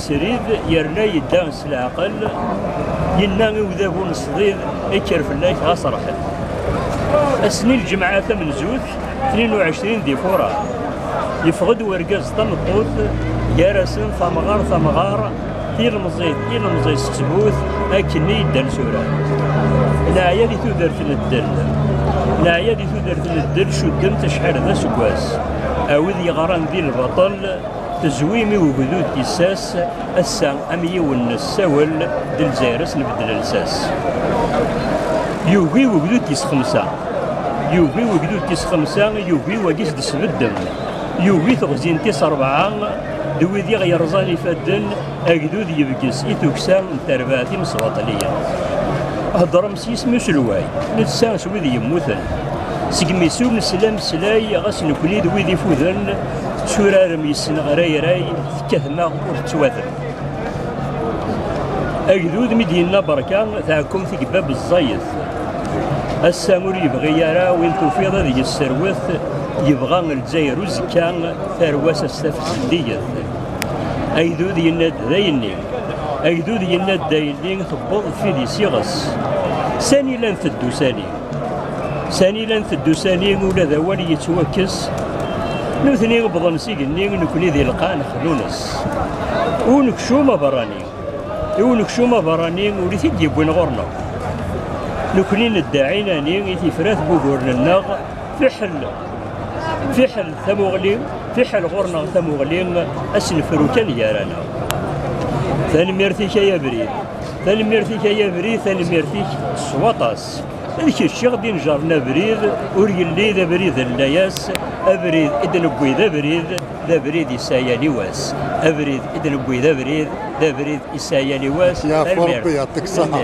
Srid yerna yedda s leɛqel, yenna i udabu n ṣdid, Kker fell-ak, ɣas ṛḥet. Ass-nni n lǧemɛa tamenzut, 22 di Fuṛaṛ, yeffeɣ-d urgaz d tameṭṭut, gar-asen tamɣart amɣar, tilemẓit ilemẓi s ttbut, akkenni yeddan s urar. Neɛya di tudert n ddel, neɛya di tudert n ddel, cudden-t acḥal d aseggas. A wid yeɣran di lbaṭel, Tezwi imi ugdud tissas ass-a am yiwen n ssawel d Lezzayer-as nbeddel lsas. Yugi ugdud tis xemsa, yugi ugdud tis xemsa, yugi wagi s-d-sbeddem, yugi teɣzi n tis rebɛa d wid i ɣ-yerẓan ifadden, agdud yebges i tuksa n terbaɛt imesbaṭliyen. Heddrem S yisem n uselway, netta s wid yemmuten, segmi s umeslameslay, ɣas nekni d wid ifuden, tetturarem yes-sen ɣrayray, tekkatem-aɣ ur tettwatem. Agdud mi d-yenna berka, tɛekkumt i yebab ẓẓayet. Ass-a ur yebɣi ara win tufiḍ ad yesserwet, yebɣa Lezzayer uzekka, tarwa-s ad s-taf zeddiget. Agdud yenna-d d ayenni. Agdud yenna-d daylli tewweḍ fidi s iɣes. Sani la nteddu sani. Sani la nteddu sani ula d awal yettwakkes. Nutni wwḍen s igenni nekni di lqaɛ nexlunes. Ur nekcum aberrani. I ur nekcum aberrani ur it-id yewwin ɣur-neɣ. Nekni nedda ɛinani i tifrat n wuguren-nneɣ fiḥel fiḥel tamuɣli fiḥel ɣurneɣ tamuɣli asenfru kan gar-aneɣ tanemmirt-ik ay abrid tanemmirt-ik ay abrid tanemmirt-ik s waṭas d kečč i ɣ-d-inejren abrid ur yelli d abrid n layas abrid i d-newwi d abrid d abrid isaya liwas abrid i d-newwi d abrid d abrid isaya liwas Yaf Ṛebbi, yɛeṭṭik ṣṣeḥa.